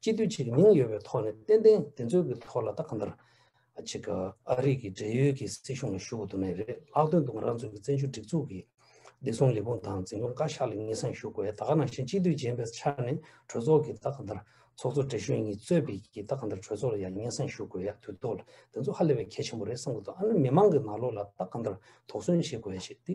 སྤྱི་འཐུས་ཆེ་གི་མིང་ཡོད་པའི་ཐོག་ནས་ཏན་ཏན་དེ་ཚོའི་གི་ཐོག་ལ་ད་ག་འདིར། ཆེ་གི་ཨ་རིག་གི་བགྲེས་ཡོལ་གི་སྲིད་གཞུང་ལ་ཞུ་གི་འདུག་ནས་རེད་ལྷག་དོན་དུ་ང་རང་ཚོའི་གི་བཙན་བྱོལ་སྒྲིག་འཛུགས་གི་བདེ་སྲུང་ལས་ཁུངས་དང་འཛིན་སྐྱོང་བཀའ་ཤག་ལ་ངེས་སེང་ཞུ་དགོས་ད་ག་ནང་བཞིན་སྤྱི་འཐུས་རྗེན་པའི་ཆ་ནས་གྲོས་ཚོགས་གི་ད་ག་འདིར་ཚོགས་གཙོ་བགྲེས་གཞོན་གཉིས་གཙོས་པའི་གི་ད་ག་འདིར་གྲོས་ཚོགས་ལ་ཡང་ངེས་སེང་ཞུ་དགོས་ཡ་དུས་ཐོག་ལ་དེ་ཚོ་ཧ་ལས་པའི་གལ་ཆེན་པོ་རེད་བསམ་གི་འདུག་ཨ་ནི་མི་མང་གི་ནང་ལོགས་ལ་ད་ག་འདིར་དོགས་ཟོན་བྱེད་དགོས་ཡ་ཞེས་དེ།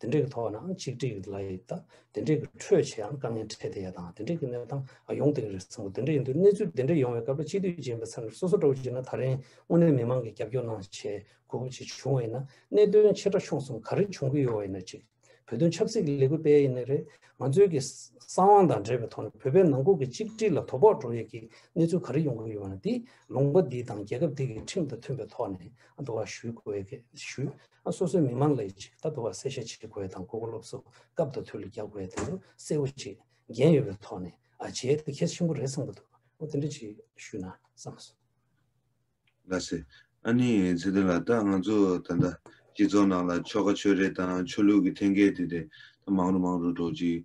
དེ་འདྲའི་ཐོག་ནའང་གཅིག་སྒྲིལ་ཡོད་ལ་ཡོད་ད། དེ་འདྲའི་ཁྲོད་ཆེའང་དཀའ་ངལ་འཕྲད་དེ་ཡ་དང་དེ་འདྲའི་གནས་སྟངས་ཡོང་དེ་རེད་སོང་དེ་འདྲ་ཡིན་དུས་གནས་ཚུལ་དེ་འདྲ་ཡོང་བའི་སྐབས་ལ་སྤྱི་འཐུས་རྗེན་པའི་ཚབ་ནས་སོ་སོ་འགྲོ་བར་བྱེད་ན་ད་རིང་དངོས་གནས་མི་མང་གི་རྒྱབ་སྐྱོར་གནང་ཆེད་གོ་སྐབས་ཅིག་བྱུང་བ་ཡིན་ན་གནད་དོན་ཆེ་ཕྲ་ཕྱོགས་གསུམ་ག་རེ་བྱུང་གི་ཡོད་བ་ཡིན་ན་གཅིག་བོད་དོན་ཆབ་སྲིད་ཀྱི་ལས་འགུལ་སྤེལ་ཡས་ནས་རེད་ང་ཚོའི་གི་བསམ་དབང་དང་འབྲེལ་བའི་ཐོག་ནས་བོད་པའི་ནང་ཁུལ་གྱི་གཅིག་སྒྲིལ་ལ་དོ་ཕོག་འགྲོ་ཡས་ཀྱི་གནས་ཚུལ་ག་རེ་ཡོང་གི་ཡོད་བ་ན་དེ་ལུང་པ་འདི་དང་རྒྱལ་ཁབ་འདི་གི་ཁྲིམས་དང་མཐུན་པའི་ཐོག་ནས་འདུ་བ་ཞུས་དགོས་ཞུས་སོ་སོའི་མི་མང་ལ་ཡིད་ཆེས་ལྟ་བུ་བ་གསལ་བཤད་བྱེད་དགོས་དང་གོ་གོ་སློབ་གསོ་སྐབས་དོ་ཐུག་ལ་རྒྱག་དགོས་དེ་འདུག་གསལ་བོ་བྱེད་འགན་ཡོད་པའི་ཐོག་ནས་ཨ་ཇེ་དེ་གལ་ཆེན་པོ་རེད་བསམ་གི་འདུག་ཨོ་དེ་འདྲ་ཅིག་ཞུས་ན་བསམ་སོང། ལ་སི། ཨ་ནི་ཚེ་བརྟན་ལགས་ད་ང་ཚོ་ད་ལྟ་སྤྱི་ཚོགས་ནང་ལ་ཆོལ་ཁ་ཆོས་རེད་དང་ཆོས་ལུགས་ཀྱི་ཐེན་སྐད་དེ་རེད་ད་མང་རུ་མང་རུ་འགྲོ་ཅིག་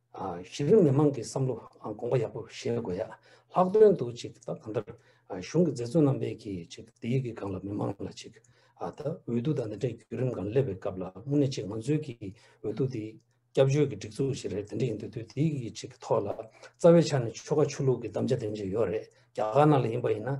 གཞི་རིམ་མི་མང་གི་བསམ་བློ་དགོངས་པ་ཡག་པོ་བཞེས་དགོས་ཡ། ལྷག་དོན་དུ་ཅིག་ད་གང་ལྟར་གཞུང་གི་མཛད་བརྩོན་རྣམ་པས་ཀྱིས་ཅིག་སྡེ་ཡི་གི་སྒང་ལ་མི་མང་ལ་ཅིག་ད་འོས་བསྡུ་དང་འདི་འདྲའི་བརྒྱུད་རིམ་གང་སླེབས་པའི་སྐབས་ལ་དངོས་གནས་ཅིག་ང་ཚོའི་གི་འོས་བསྡུ་དེ་སྐྱབས་བཅོལ་གི་སྒྲིག་འཛུགས་ཞིག་རེད་དེ་འདྲ་ཡིན་དུས་དུས་དེ་ཡི་གི་ཅིག་ཐོག་ལ་རྩ་བའི་ཆ་ནས་ཆོལ་ཁ་ཆོས་ལུགས་གི་གདམ་བྱ་དེ་འབྱེད་ཡོད་རེད་རྒྱ་གར་ནང་ལ་ཡིན་པ་ཡིན་ན།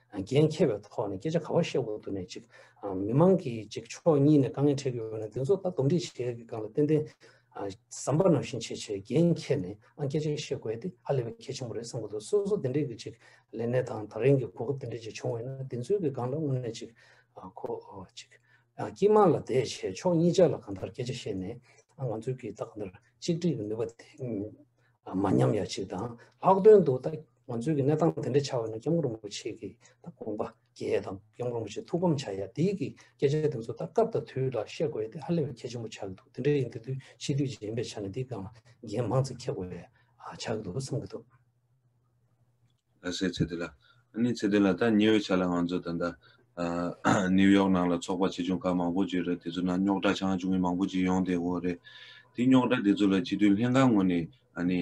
འགན་འཁྱེར་བའི་ཐོག་ནས་སྐད་ཆ་ག་བ་བཤད་དགོས་འདུག་ནས་ཅིག་མི་མང་གིས་ཅིག་ཕྱོགས་གཉིས་ནས་དཀའ་ངལ་འཕྲད་ཀྱི་འོག་ནས་དེ་ཚོ་ད་སྡོམ་འདྲི་བྱེད་ཀྱི་སྒང་ལ་ཏན་ཏན་ཟམ་པ་ནང་བཞིན་བྱེད་ཆེད་འགན་འཁྱེར་ནས་ཨང་སྐད་ཆ་བཤད་དགོས་དེ་ཧ་ལས་པའི་གལ་ཆེན་པོ་རེད་བསམ་གི་འདུག་སོ་སོ་དེ་འདྲས་ཀྱི་ཅིག་ལས་གནས་དང་ད་རིང་གི་གོ་སྐབས་དེ་འདྲས་ཅིག་བྱུང་བས་ན་དེ་ཚོའི་གི་སྒང་ལ་དངོས་གནས་ཅིག་ཁོ་ཅིག་སྐྱིད་དམངས་ལ་དེ་བྱས་ཕྱོགས་གཉིས་ཅག་ལ་གང་ལྟར་སྐད་ཆ་བཤད་ནས་ང་ཚོའི་གི་ད་གང་ལྟར་གཅིག་སྒྲིལ་གྱི་ནུས་པ་དེ་མ་ཉམས་ཡ་ཅིག་དང་ལྷག་དོན་དུ་ད་ང་ཚོའི་གནས་སྟངས་དེ་འདྲ་ཆགས་པ་ནི་སྐྱབས་མགོན་རིན་པོ་ཆེ་གི་དགོངས་པ་རྒྱས་དང་སྐྱབས་མགོན་རིན་པོ་ཆེ་ཐུགས་ཕམ་བྱ་ཡ་འདིའི་གི་སྐད་ཆ་དེ་ཚོ་ད་སྐབས་དང་དུས་ལ་བཤད་དགོས་ཡ་དེ་ཧ་ལས་པའི་གལ་ཆེན་པོ་ཆགས་ཀྱི་འདུག་དེ་འདྲ་ཡིན་དེ་དུས་ཕྱིས་དུས་གཞན་པའི་ཆ་ནས་འདིའི་སྒང་ལ་འགན་མང་ཙིག་འཁྱེར་དགོས་ཡ་ཆགས་ཀྱི་འདུག་བསམ་གྱི་འདུག། ལ་སེ་ཚེ་དེ་ལ་ཨ་ནི་ཚེ་དེ་ལ་ད་ཉེ་བའི་ཆ་ལ་ང་ཚོ་ད་ད New York ནང་ལ་ཚོགས་པ་ཆེ་ཆུང་ཁག་མང་པོ་བརྗོད་རེད་དེ་ཚོ་ནང་རྙོག་དྲ་ཆང་ཆུང་གི་མང་པོ་ཅིག་ཡོང་བསྡད་དགོས་རེད། དེ་རྙོག་དྲ་དེ་ཚོ་ལ་སྤྱི་མཐུན་ལྷན་ཁང་ངོས་ནས་ཨ་ནི་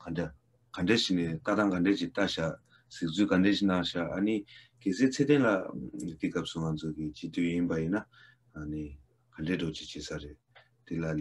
ག་འདྲ་ག་འདྲ་ཞིག་ནས་ལྟ་སྟངས་ག་འདྲ་ཞིག་བལྟ་ཤག་གཟིགས་ཚུལ་ག་འདྲ་ཞིག་གནང་ཤག་ཨ་ནི་གལ་སྲིད་ཚེ་བརྟན་ལགས་འདི་སྐབས་སུ་ང་ཚོ་གི་སྤྱི་འཐུས་ཡིན་པ་ཡིན་ན་ཨ་ནི་ག་འདྲས་འགྲོ་ཅི་བྱེད་ས་རེད་དེ་ལ།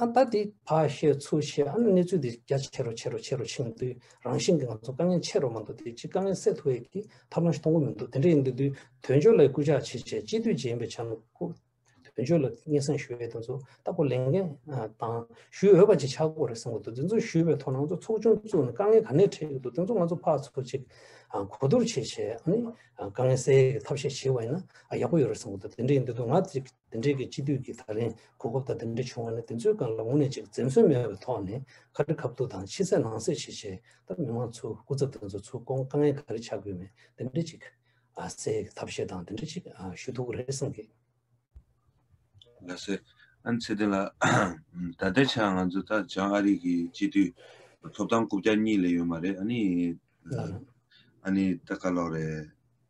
ཨ་མདའ་དེ་ཕ་ཤེས་མཚུར་ཤེས་ཨ་ན་གནས་ཚུལ་འདི་རྒྱ་ཆེ་རུ་ཆེ་རུ་ཆེ་རུ་ཕྱིན་དུས་རང་བཞིན་གྱི་ང་ཚོ་དཀའ་ངལ་ཆེ་རུ་མ་འདུག་དེ་ཅི་དཀའ་ངལ་སེལ་ཐུབ་འི་གི་ཐབས་ལམ་ཞིག་མཐོང་གི་མི་འདུག་དེ་འདྲ་ཡིན་དུས་དུས་དོན་འཁྱོལ་ལ་སྐུལ་ལྕག་བྱེད་ཆེད་སྤྱི་འཐུས་རྗེ་ཡིན་པའི་ཆ་ནས་སྐུ་དོན་འཁྱོལ་ལ་སྙན་སེང་ཞུ་འི་དེ་ཚོ་ལྟ་བུ་ལས་འགན་དང་ཞུ་འོས་པ་ཅིག་ཆགས་དགོས་རེད་བསམ་གི་འདུག་དེ་ཚོ་ཞུས་པའི་ཐོག་ནང་ཚོ་ཚོགས་ཆུང་བཙུགས་ནས་དཀའ་ངལ་ག་ནས་འཕྲད་ཀྱི་འདུག་དེ་ཚོ་ང་ཚོ་ཕག་ཚོགས་ཅིག་གོ་བསྡུར་བྱེད་ཆེད་དཀའ་ངལ་སེལ་གི་ཐབས་ཤེས་བྱེད་འི་ན་ཡག་པོ་ཡོད་རེད་བསམ་གི་འདུག་དེ་འདྲ་ཡིན་དུས་དུས་ང་དེ་འབྲེལ་གྱི་སྤྱི་འཐུས་ཀྱིས་ད་རིང་གོ་སྐབས་དང་དེ་འབྲེལ་བྱུང་བ་ནི་དེ་ཚོའི་སྒང་ལ་དངོས་གནས་གཅིག་འཛེམས་ཟོན་མེད་པའི་ཐོག་ནས་ཁ་ཁྲི་ཁ་ཐུག་དང་ཕྱི་གསལ་ནང་གསལ་བྱེད་ཆེད་ད་མི་མང་ཚོའི་སྐུ་ཚབ་དེ་ཚོ་ཚུར་བསྐོང་དཀའ་ངལ་ག་རེ་ཆགས་དགོས་མེད་དེ་འབྲེལ་གཅིག་གསལ་ཐབས་ཤེས་དང་དེ་འབྲེལ་གཅིག་ཞུ་ཐུག་གི་རེད་བསམ་གི། ལ་སེ། ཨན་ཚེ་ཏེ་ལགས། ད་ལྟའི་ཆར་ང་ཚོ་ད་བྱང་ཨ་རིག་གི་སྤྱི་འཐུས་ཐོབ་ཐང་དགུ་བརྒྱ་གཉིས་ལས་ཡོད་མ་རེད་ཨ་ནི། ཨ་ནི་ད་ག་ལོག་རེད།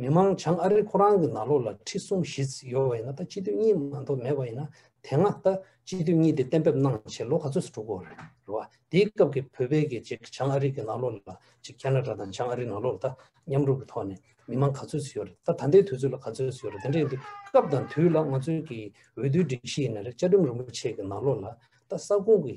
མི་དམངས་བྱང་ཨ་རི་ཁོ་རང་གི་ནག་ལོ་ལ་ཁྲི་གསུམ་བཞི་བརྩི་ཡོད་པ་ཡིན་ན་ད་སྤྱི་འཐུས་གཉིས་མ་འཐོབ་མེད་པ་ཡིན་ན་དེ་སྔ་ད་སྤྱི་འཐུས་གཉིས་དེ་གཏན་འབེབས་གནང་ཆེད་ལོ་ག་ཚོད་སུ་དྲུག་གོ་རེད་བ་དེའི་སྐབས་ཀྱི་བོད་པའི་གི་ཅིག་བྱང་ཨ་རི་གི་ནག་ལོ་ལ་ཅིག་ཁ་ན་ཏྲ་དང་བྱང་ཨ་རི་ནག་ལོ་ལ་ད་མཉམ་རུབ་གི་ཐོག་ནས་མི་དམངས་ག་ཚོད་བརྩི་ཡོད་རེད་ད་ད་ལྟའི་དུས་ཚོད་ལ་ག་ཚོད་བརྩི་ཡོད་རེད་དེ་འདྲ་ཡིན་དུས་སྐབས་དང་དུས་ལ་ང་ཚོའི་གི་འོས་བསྡུའི་སྒྲིག་གཞི་ཡིན་ན་རེད་བཅའ་ཁྲིམས་རིན་པོ་ཆེ་གི་ནག་ལོ་ལ་ད་ས་ཁུང་གི་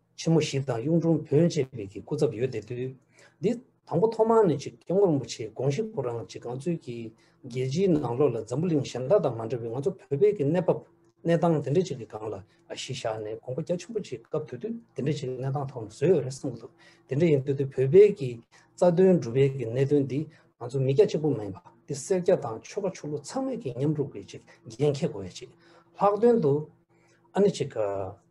ཆེན་མོ་བཞི་དང་གཡུང་དྲུང་བོན་བཅས་པའི་གི་སྐུ་ཚབ་ཡོད་དེ་དུས་འདི་དང་པོ་ཐོག་མར་ནི་ཆོས་རྒྱལ་དབང་རིན་པོ་ཆེའི་དགོངས་གཞི་ཁོ་རང་གཅིག་གངས་མཚོའི་གི་རྒྱལ་སྤྱིའི་ནང་ལོགས་ལ་འཛམ་བུ་གླིང་གཞན་དག་དང་མ་འདྲ་བའི་ང་ཚོ་བོད་པའི་གི་གནས་བབ་གནས་སྟངས་དེ་འདྲ་ཅིག་གི་སྒང་ལ་གཞི་བཞག་ནས་དགོངས་པ་རྒྱ་ཆེན་པོ་ཆེ་སྐབས་དུས་དུས་དེ་འདྲ་ཅིག་གི་གནས་སྟངས་ཐོག་ནས་བཟོས་ཡོད་རེད་བསམ་གི་འདུག་དེ་འདྲ་ཡིན་དུས་དུས་བོད་པའི་གི་རྩ་དོན་སྒྲུབ་པའི་གི་གནད་དོན་འདི་ང་ཚོ་མི་སྐྱ་གཅིག་པུ་མ་ཡིན་པ་འདི་སེར་སྐྱ་དང་ཆོལ་ཁ་ཆོས་ལུགས་ཚང་མའི་གི་མཉམ་རུབ་གི་ཅིག་འགན་འཁྱེར་དགོས་ཡ་ཅིག་ལྷག་དོན་དུ་ཨ་ནི་ཅིག་གི།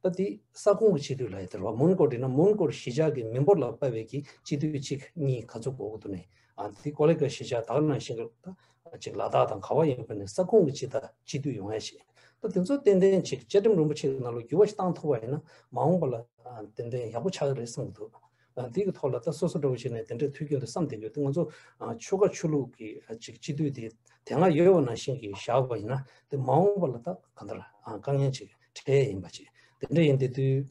སྐབས་དེའི་ས་ཁོངས་ཀྱི་སྤྱི་འཐུས་ལ་ཡང་དེར་བ་མོན་གོར་བྲིས་ན་མོན་གོར་གཞིས་ཆགས་ཀྱི་མི་འབོར་ལ་དཔལ་བེད་ཀྱི་སྤྱི་འཐུས་གཅིག་གཉིས་ག་ཚོད་གོ་དགོས་དོན་མེད། དེ་ཀོ་ལེ་ཀ་གཞིས་ཆགས་དག་ནང་བཞིན་གྱི་གཅིག་ལ་དྭགས་དང་ག་བ་ཡིན་པ་ནས་ས་ཁོངས་ཀྱི་སྤྱི་དང་སྤྱི་འཐུས་ཡོང་ཡ་བྱེད། སྐབས་དེ་ཚོ་ཏན་ཏན་གཅིག་བཅའ་ཁྲིམས་རིན་པོ་ཆེ་གི་ནང་ལོ་རྒྱུས་བ་ཞིག་བཏང་ཐུབ་པ་ཡིན་ན་མ་འོངས་པ་ལ་ཏན་ཏན་ཡག་པོ་ཆགས་ཀྱི་རེད་བསམ་གྱི་འདུག། དེ་གི་ཐོག་ལ་ད་སོ་སོ་འགྲོ་བ་ཞིག་ནས་དེ་འདྲའི་ཐུགས་ཀྱི་འདུན་བསམ་དེ་གི་ང་ཚོ་ཆོལ་ཁ་ཆོས་ལུགས་ཀྱི་ཅིག་སྤྱི་འཐུས་དེ་དེ་སྔ་ཡོད་བ་ནང་བཞིན་གྱི་བཞག་པ་ཡིན་ན་དེ་མ་འོངས་པ་ལ་ད་ག་འདྲ་དཀའ་ངལ་ཅིག་འཕྲད་ཡས་ཡིན་པ་ཅིག་དེ་འདྲ་ཡིན་དེ་དུས་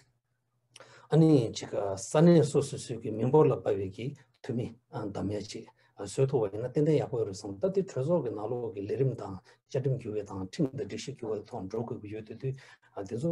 ཨ་ནི་ཅིག་ས་གནས་སོ་སོ་སུས་ཀྱི་མི་འབོར་ལ་དཔའ་བའི་གི་འཐུས་མི་འདམ་མས་ཅིག་བཟོས་ཐུབ་བ་ཡིན་ན་ཏན་ཏན་ཡག་པོ་ཡོད་རེད་བསམ་ད་དེ་གྲོས་ཚོགས་ཀྱི་ནང་ལོགས་ཀྱི་ལས་རིམ་དང་བཅའ་ཁྲིམས་འགྱུར་བའི་དང་ཁྲིམས་དང་སྒྲིག་གཞི་འགྱུར་བ་ཐོག་འགྲོ་དགོས་ཀྱི་ཡོད་དེ་དུས་དེ་ཚོ་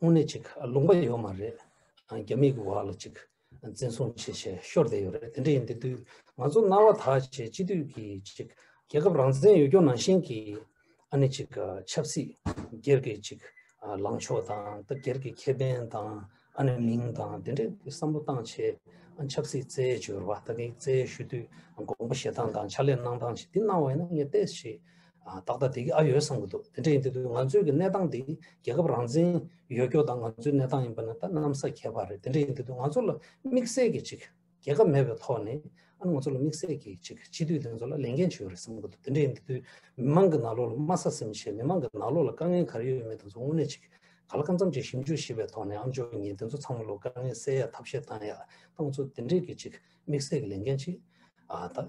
དངོས་གནས་ཅིག་ལུང་པ་ཡོད་མ་རེད། རྒྱ་མིའི་གོ་བ་ལ་ཅིག་འཛིན་བཟུང་བྱེད་བྱེད་ཤོར་བསྡད་ཡོད་རེད་དེ་འདྲ་ཡིན་དེ་དུས་ང་ཚོ་རྣ་བ་དག་བྱེད་སྤྱི་འཐུས་ཀྱི་ཅིག་རྒྱལ་ཁབ་རང་བཙན་ཡོད་སྐྱོང་ནང་བཞིན་གྱི་ཨ་ནི་ཅིག་ཆབ་སྲིད་སྒེར་གྱི་ཅིག་ལངས་ཕྱོགས་དང་ད་སྒེར་གྱི་ཁེ་ཕན་དང་ཨ་ནི་མིང་དང་དེ་འདྲའི་བསམ་བློ་བཏང་བྱེད་ཆབ་སྲིད་རྩད་བཅོལ་བ་དག་གིས་རྩད་ཞུ་དུས་དགོངས་པ་བཞེས་སྟངས་དང་ཕྱག་ལས་གནང་སྟངས་ཅིག་འདི་གནང་བ་ཡིན་ན་ངས་བལྟས་ཞེས་ཏག་ཏག་དེ་གི་ཨ་ཡོད་བསམ་གྱི་འདུག་དེ་འདྲ་ཡིན་དུས་ང་ཚོའི་གི་གནས་སྟངས་འདི་རྒྱལ་ཁབ་རང་བཙན་ཡོད་སྐྱོ་དང་ང་ཚོའི་གནས་སྟངས་ཡིན་པ་ནི་ད་གནམ་ས་ཁྱད་པར་རེད་དེ་འདྲ་ཡིན་དུས་ང་ཚོ་ལ་དམིགས་བསལ་གྱི་ཅིག་རྒྱལ་ཁབ་མེད་པའི་ཐོག་ནས་ཨ་ང་ཚོ་ལ་དམིགས་བསལ་གྱི་ཅིག་སྤྱི་འཐུས་དེ་ཚོ་ལ་ལས་འགན་ཅིག་ཡོད་རེད་བསམ་གྱི་འདུག་དེ་འདྲ་ཡིན་དུས་མི་མང་གི་ནག་ལོག་ལ་དམའ་ས་སེམས་ཆེད་མི་མང་གི་ནག་ལོག་ལ་དཀའ་ངལ་ག་རེ་ཡོད་མེད་དེ་ཚོ་དངོས་གནས་ཅིག་ག་ལ་གང་འཚམ་ཅིག་ཞིབ་འཇུག་ཞིབ་པའི་ཐོག་ནས་ཨ་མཆོག་ཉིད་དེ་ཚོ་ཚང་མ་ལོ་དཀའ་ངལ་སེལ་ཡ་ཐབས་ཤེས་གཏང་ཡ་ད་ང་ཚོ་དེ་འདྲའི་གི་ཅིག་དམིགས་བསལ་གྱི་ལས་འགན་ཅིག་ད་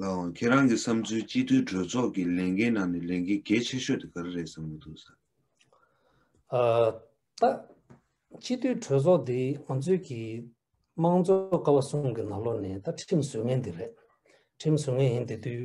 ལའང་ཁྱེད་རང་གི་བསམ་ཚུལ་སྤྱི་འཐུས་གྲོས་ཚོགས་ཀྱི་ལས་འགན་ནང་ནས་ལས་འགན་གལ་ཆེ་ཤོས་དེ་ག་རེ་རེད་བསམ་གྱི་འདུག་བསམ། ཨ། ཏཱ། སྤྱི་འཐུས་གྲོས་ཚོགས་འདི་ང་ཚོས་ཀྱི་དམངས་གཙོ་ཀ་བ་གསུམ་གྱི་ནང་ལོགས་ནས་ད་ཁྲིམས་བཟོས་ངེས་འདི་རེད། ཁྲིམས་བཟོས་ངེས་ཡིན་དེ་དུས་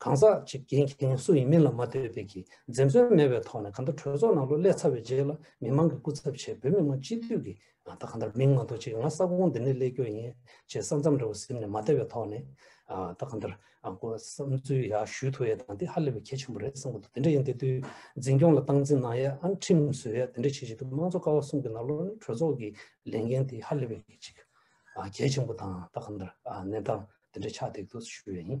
གང་ཟག་གཅིག་རྒྱལ་མཁན་སུ་ཡིན་མིན་ལ་མ་ལྟོས་པའི་གིས་འཛེམ་ཟོན་མེད་པའི་ཐོག་ནས་གང་ལྟར་གྲོས་ཚོགས་ནང་ལོ་སླེ་ཚར་བའི་རྗེས་ལ་མི་མང་གི་སྐུ་ཚབ་ཆེད་བོད་མི་མང་སྤྱི་འཐུས་ཀྱི་ད་གང་ལྟར་མིང་མ་འདོགས་ཅིག་ང་ས་ཁོངས་འདི་ནས་སླེ་རྒྱུ་ཡིན་ཅེས་ས་མཚམས་རེ་བ་གཟིམ་ནས་མ་བསྡད་པའི་ཐོག་ནས་ད་གང་ལྟར་དགོས་བསམ་ཚུལ་ཡག་ཞུས་ཐུབ་ཡ་དང་དེ་ཧ་ལས་པའི་གལ་ཆེན་པོ་རེད་བསམ་གོ་ཐུབ་དེ་འདྲ་ཡིན་དེ་དུས་འཛིན་སྐྱོང་ལ་སྟངས་འཛིན་གནང་ཡ་ཨང་ཁྲིམས་བཟོས་ཡ་དེ་འདྲ་བྱེད་བཞིན་དུ་དམངས་གཙོ་ཀ་བ་གསུམ་གྱི་ནང་ལོ་ནས་གྲོས་ཚོགས་ཀྱི་ལས་འགན་དེ་ཧ་ལས་པའི་གལ་ཆེན་པོ་དང་ད་གང་ལྟར་གནས་སྟངས་དེ་འདྲ་ཆགས་འདེགས་འདུག་ཞུ་ཡ་ཡིན།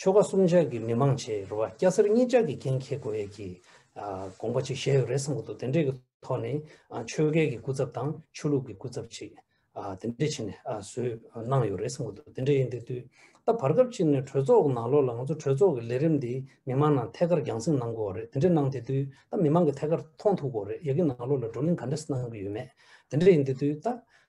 ཆོལ་ཁ་གསུམ་ཆ་གི་མི་མང་བྱེས་རུ་བ་སྐྱ་སེར་གཉིས་ཅག་གི་འགན་འཁྱེར་དགོས་ཡས་ཀྱི་དགོངས་པ་ཅིག་བཞེས་ཡོད་རེད་བསམ་གི་འདུག་དེ་འབྲེལ་གི་ཐོག་ནས་ཆོལ་ཁའི་གི་སྐུ་ཚབ་དང་ཆོས་ལུགས་ཀྱི་སྐུ་ཚབ་ཅིག་དེ་འབྲེལ་བྱས་ནས་བཟོས་གནང་ཡོད་རེད་བསམ་གི་འདུག་དེ་འདྲ་ཡིན་དེ་དུས་ད་བར་སྐབས་གཅིག་ནས་གྲོས་ཚོགས་གི་ནང་ལོགས་ལ་ང་ཚོ་གྲོས་ཚོགས་ཀྱི་ལས་རིམ་འདི་མི་མང་ནང་ཐད་ཀར་རྒྱང་སྲིང་གནང་དགོས་བ་རེད་དེ་འདྲ་གནང་དེ་དུས་ད་མི་མང་གི་ཐད་ཀར་མཐོང་ཐུག་གོ་རེད་ཡས་ཀི་ནང་ལོགས་ལ་བགྲོ་གླེང་ག་འདྲ་སྣང་གི་ཡོད་མེད་དེ་འདྲ་ཡིན་དེ་དུས་ད་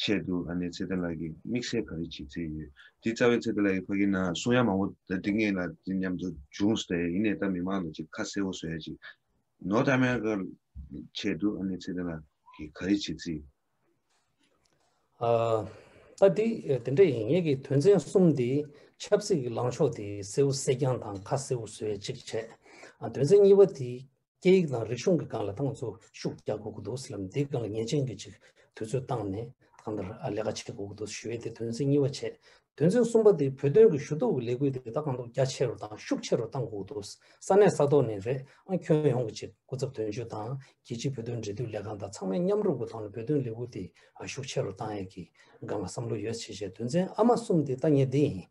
ཆེད་དུ་ཨ་ནེ་ཚེ་བརྟན་ལགས་ཀྱིས་དམིགས་བསལ་ག་རེ་བྱེད་རྩིས་ཡོད། དེ་རྩ་བའི་ཚེ་བརྟན་ལགས་ཀྱི་ཕ་གི་ནང་གསུང་ཡག་མང་བོ་འདི་ངེད་ལ་འདི་སྙམ་དུ་བྱུང་སྟེ་ཡིན་ནའི་ད་མི་མང་ལ་ཅིག་ཁ་གསལ་བོ་བཟོ་ཡ་ཅིག་ནོ་ད་མན་ག་ཆེད་དུ་ཨ་ནེ་ཚེ་བརྟན་ལགས་ཀྱིས་ག་རེ་བྱེད་རྩིས། ཨ། ད་དེ་དེ་འདྲ་ཡིན་ངེད་ཀྱིས་དོན་ཚན་གསུམ་དེ་ཆབ་སྲིད་ཀྱི་ལངས་ཕྱོགས་དེ་གསལ་བོ་གསལ་རྐྱང་དང་ཁ་གསལ་བོ་བཟོ་ཡ་ཅིག་བྱས། དོན་ཚན་གཉིས་པ་དེ། སྐད་ཡིག་དང་རིག་གཞུང་གི་སྒང་ལ་ཏང་ཚོ་ཤུགས་རྒྱག་དགོས་ཀྱི་འདུག་ཟེར་ལབ་འདིའི་སྒང་ལ་ཉེས་ཅན་གྱི་ཅིག་དུས་ཚོད་བཏང་ནས་ཐང་དར་ལས་ཀ་བྱེད་དགོས་ཀྱི་འདུག་ཞུ་བའི་དེ་དོན་ཚན་གཉིས་པ་བྱས། དོན་ཚན་གསུམ་པ་དེ་བོད་དོན་གྱི་ཞུ་གཏུག་གི་ལས་འགུལ་དེ་ད་གང་ཐུབ་རྒྱ་ཆེ་རུ་དང་ཤུགས་ཆེ་རུ་བཏང་དགོས་ཀྱི་འདུག་ས་གནས་ས་ཐོག་ནས་རེད་ཨང་ཁྱོན་ཡོངས་ཀྱི་ཅིག་སྐུ་ཚབ་དོན་གཅོད་དང་རྒྱལ་སྤྱིའི་བོད་དོན་འབྲེལ་མཐུད་ལས་ཁང་དང་ཚང་མས་མཉམ་རུབ་ཀྱི་ཐོག་ནས་བོད་དོན་ལས་འགུལ་དེ་ཤུགས་ཆེ་རུ་བཏང་ཡས་ཀྱི་སྒང་ལ་བསམ་བློ་ཡོད་ཆེ་བྱས་དོན་ཚན་ཨ་མ་གསུམ་དེ་ད་ངས་འདི་ཡིན།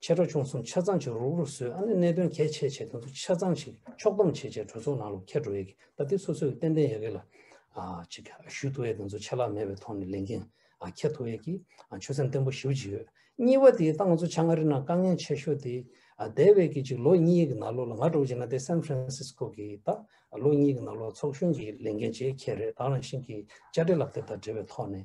ཆེ་ཁྲོ་ཆུང་གསུམ་ཆ་ཚང་ཅིག་རུག་རུག་བཟོས་ཨ་ནི་གནད་དོན་གལ་ཆེ་བྱས་དེ་ཚོ་ཆ་ཚང་ཞིག་ཕྱོགས་བསྡོམས་བྱས་བྱས་གྲོས་ཚོགས་ནང་ལོ་ཁྱད་འགྲོ་ཡས་གི་ད་དེ་སོ་སོ་གི་ཏན་ཏན་ཡས་གི་ལ་ཅིག་ཞུས་ཐུ་ཡས་དེ་ཚོ་ཆད་ལག་མེད་པའི་ཐོག་ནས་ལས་འགན་ཁྱད་ཐུ་ཡས་གི་ཆོད་སེམས་བརྟན་པོ་ཞིའུ་ཅིག་ཡོད་གཉིས་པ་དེ་ད་ང་ཚོ་ཆ་ང་རི་ན་དཀའ་ངལ་ཆེ་ཤོས་དེ་དེ་བས་གི་ཅིག་ལོ་གཉིས་ཡས་གི་ན་ལོ་ལ་ང་གྲོ་ཅིག་ན་དེ་སན་ཕ་རན་སིས་ཀོ་གི་ད་ལོ་གཉིས་ཡས་གི་ན་ལོ་ཚོགས་གཞོན་གི་ལས་འགན་ཇེ་ཁྱད་རེད་ད་རང་བཞིན་གི་བཅའ་འབྲེལ་ལག་དེབ་དང་འབྲེལ་བའི་ཐོག་ནས་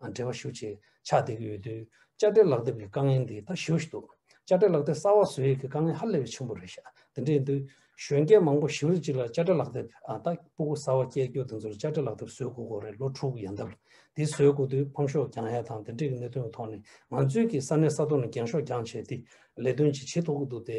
འབྲེལ་བ་ཞུ་ཆེད་ཕྱག་འདེབས་ཀྱི་ཡོད་དུས་དཔྱ་ཁྲལ་ལག་དེབ་ཀྱི་དཀའ་ངལ་འདི་ད་ཞུ་ཞིག་འདུག་དཔྱ་ཁྲལ་ལག་དེབ་གསར་བ་བཟོ་ཡས་ཀྱི་དཀའ་ངལ་ཧ་ལས་པའི་ཆེན་པོ་རེད་ཤག་དེ་འདྲའི་འདུག་གཞོན་སྐྱེས་མང་པོ་ཞི་ལུ་ཅིག་ལ་དཔྱ་ཁྲལ་ལག་དེབ་ད་སྤུ་གུ་གསར་བ་སྐྱེལ་རྒྱུ་དེ་ཚོར་དཔྱ་ཁྲལ་ལག་དེབ་བཟོས་དགོས་དགོས་རེད་ལོ་དྲུག་ཡན་འདབ་འདི་བཟོས་དགོས་དུས་ཕམ་ཤོག་འགྱངས་ཡས་དང་དེ་འདྲས་ཀྱི་གནད་དོན་གྱི་ཐོག་ནས་ང་ཚོའི་ཀྱི་ས་གནས་ས་ཐོག་ནས་འགྱངས་ཤོག་འགྱངས་བྱས་དེ་ལས་དོན་ཅིག་བྱེད་ཐུབ་ཀྱི་འདུག་དེ་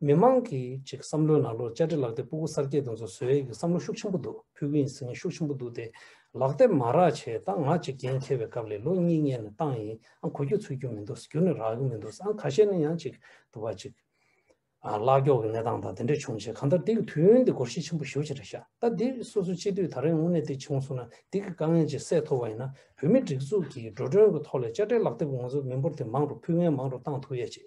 མི་མང་གི་ཅིག་བསམ་བློའི་ནང་ལོ་བཅར་འདྲི་ལག་དེབ་སྤུ་གུ་གསར་སྐྱེས་དང་ཚོ་བཟོས་ཡས་ཀྱི་བསམ་བློ་ཤུགས་ཆེན་པོ་འདུག་ཕུལ་གི་ཡིན་ཟེར་མཁན་ཤུགས་ཆེན་པོ་འདུག་སྟེ་ལག་དེབ་མ་རག་བྱས་ད་ང་ཅིག་འགན་འཁྱེར་བའི་སྐབས་ལས་ལོ་གཉིས་ལྔས་ནས་བཏང་ཡིན་ཨང་གོ་རྒྱུ་ཚུད་རྒྱུ་མི་འདུག་རྒྱུ་ནས་རག་གི་མི་འདུག་ཨང་ཁ་ཤས་ནས་ཡང་ཅིག་དུ་བ་ཅིག་ལག་སྐྱོག་གི་གནས་སྟངས་དང་དེ་འདྲས་བྱུང་རྗེས་གང་ལྟར་འདི་གི་དུས་ཡུན་འདི་འགོར་ཤས་ཆེན་པོ་ཞུ་ཅི་རེ་བྱ་ད་འདི་སོ་སོ་སྤྱི་འཐུས་ད་རེས་དངོས་གནས་འདི་བྱུང་སོང་ན་འདི་གི་དཀའ་ངལ་ཅིག་སེལ་ཐུབ་བ་ཡིན་ན་བོད་མི་སྒྲིག་འཛུགས་ཀྱི་འགྲོ་གྲོན་གྱི་ཐོག་ལས་བཅར་འདྲི་ལག་དེབ་ང་ཚོ་མི་འབོར་དེ་མང་རུ་ཕུལ་ངན་མང་རུ་བཏང་ཐུབ་ཡས་ཅིག་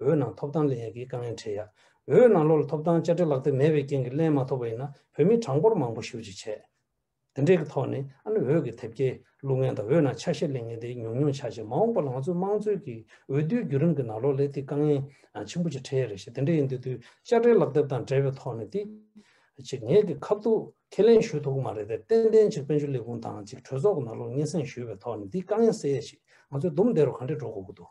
འོད་ནང་ཐོབ་ཐང་ལེན་ཡག་གི་དཀའ་ངལ་འཕྲད་ཡ། འོད་ནང་ལོར་ཐོབ་ཐང་བཅའ་ཁྲལ་ལག་དེབ་མེད་པའི་རྐྱེན་གྱི་ལན་མ་ཐོབ་པ་ཡིན་ན་བོད་མི་གྲངས་འབོར་མང་པོ་ཞུ་རྗེས་ཆད། དེ་འདྲས་ཀྱི་ཐོག་ནས་ཨ་ནི་འོད་ཀྱི་དེབ་སྐྱེལ་ལུགས་ངན་དང་འོད་ནང་ཆ་ཤས་ལེན་ངན་དེ་ཉུང་ཉུང་ཆགས་རྗེས་མ་འོངས་པར་ང་ཚོའི་དམངས་གཙོའི་གི་འོས་བསྡུའི་བརྒྱུད་རིམ་གྱི་ནང་ལོ་ལེགས་ཏེ་དཀའ་ངལ་ཆེན་པོ་ཅིག་འཕྲད་ཡ་རེད་ཞེས་དེ་འདྲས་ཡིན་དུས་དུས་བཅའ་ཁྲལ་ལག་དེབ་དང་འབྲེལ་བའི་ཐོག་ནས་དེ་གཅིག་ངེད་ཀྱི་ཁ་ཐུག་ཁས་ལེན་ཞུས་ཐུབ་གི་མ་རེད་དེར་བརྟེན་ཐེངས་གཅིག་དཔལ་འབྱོར་ལས་ཁུངས་དང་གཅིག་གྲོས་ཚོགས་ཀྱི་ནང་ལོ་སྙན་སེང་ཞུས་པའི་ཐོག་ནས་དེའི་དཀའ་ངལ་སེལ་ཡ་ཞིག་ང་ཚོའི་འདུམ་བདེ་རུ་གང་འདྲས་འགྲོ་དགོས་ཀྱི་འདུག།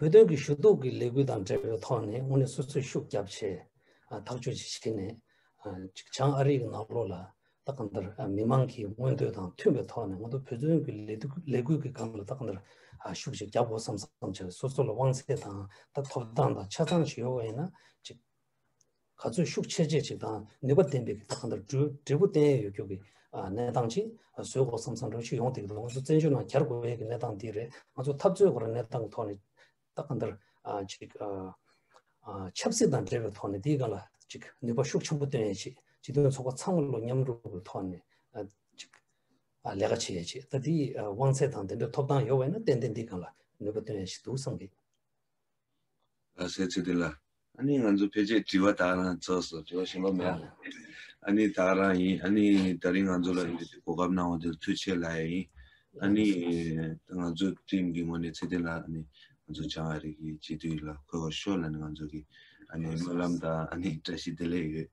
བོད་དོན་གྱི་ཞུ་གཏུག་གི་ལས་འགུལ་དང་འབྲེལ་བའི་ཐོག་ནས་དངོས་གནས་སོ་སོས་ཤུགས་རྒྱབ་ཆེད་ཐག་གཅོད་ཅིག་བྱེད་ནས། གཅིག་བྱང་ཨ་རིའི་ནག་ལོ་ལ་ད་གང་ལྟར་མི་དམངས་ཀྱི་མངོན་འདོད་དང་མཐུན་པའི་ཐོག་ནས་ང་ཚོ་བོད་དོན་གྱི་ལས་འགུལ་གྱི་སྒང་ལ་ད་གང་ལྟར་ཤུགས་ཅིག་རྒྱབ་དགོས་སམ་བསམ་བྱ་བའི་སོ་སོ་ལ་དབང་ཚད་དང་ཐོབ་ཐང་དང་ཆ་ཚང་ཞིག་ཡོད་པ་ཡིན་ན་གཅིག། ག་ཚོད་ཤུགས་ཆེར་སྤྱད་ཅིག་དང་ནུས་པ་ལྡན་པའི་གིས་གང་ལྟར་འབྲས་བུ་བསྟན་ཡས་ཡོད་རྒྱུ་གི་གནས་སྟངས་ཅིག་བཟོས་གོ་བསམ་བསམ་བྱུང་ཞིག་ཡོང་སྡིགས་འདུག་ང་ཚོ་བཙན་བྱོལ་ནང་གྱར་དགོས་ཡས་ཀྱི་གནས་སྟངས་འདི་རེད་ང་ཚོ་འཐབ་རྩོད་དགོས་ར་གནས་སྟངས་ཀྱི་ཐོག་ནས་ད་གང་ལྟར་ཅིག་ཆབ་སྲིད་དང་འབྲེལ་བའི་ཐོག་ནས་འདིའི་ག་ལ་ཅིག་ནུས་པ་ཤུགས་ཆེན་པོ་བཏོན་ཡས་ཆེད་སྤྱི་མཐུན་ཚོགས་པ་ཚང་མ་ལོ་མཉམ་རུབ་གི་ཐོག་ནས་ཅིག་ལས་ཀ་བྱེད་ཡས་ཆེད་ད་འདིའི་དབང་ཚད་དང་དེ་འདྲའི་ཐོབ་ཐང་ཡོད་བས་ན་ཏན་ཏན་འདིའི་གང་ལ་ནུས་པ་བཏོན་ཡས་ཞིག་འདུག་བསམ་གི། ལ་སའི་ཚིག་དེ་ལ་ཨ་ནི་ང་ཚོ་ཕལ་ཆེར་དྲི་བ་དག་རང་ཚགས་སུ་དྲི་བ་ཞིག་ལོག་མེད་ཨ་ཨ་ནི་དག་རང་ཡིན་ཨ་ནི་ད་རིང་ང་ཚོ་ལ་གོ་སྐབས་གནང་བ་དེར་ཐུགས་ཆེ་ལ་ཡ་ཡིན་ཨ་ནི་ང་ཚོ་ཏིམ་གྱི་ངོ་ནས་ཚེ་བརྟན་ལགས་ཨ་ནི་ང་ཚོ་བྱང་ཨ་རིག་གི་སྤྱི་འཐུས་ལ་གོ་བ་ཤོར་ལ་ནི་ང་ཚོ་གི་ཨ་ནི་སྨོན་ལམ་དང་ཨ་ནི་བཀྲ་ཤིས་བདེ་ལེགས་ཡོད།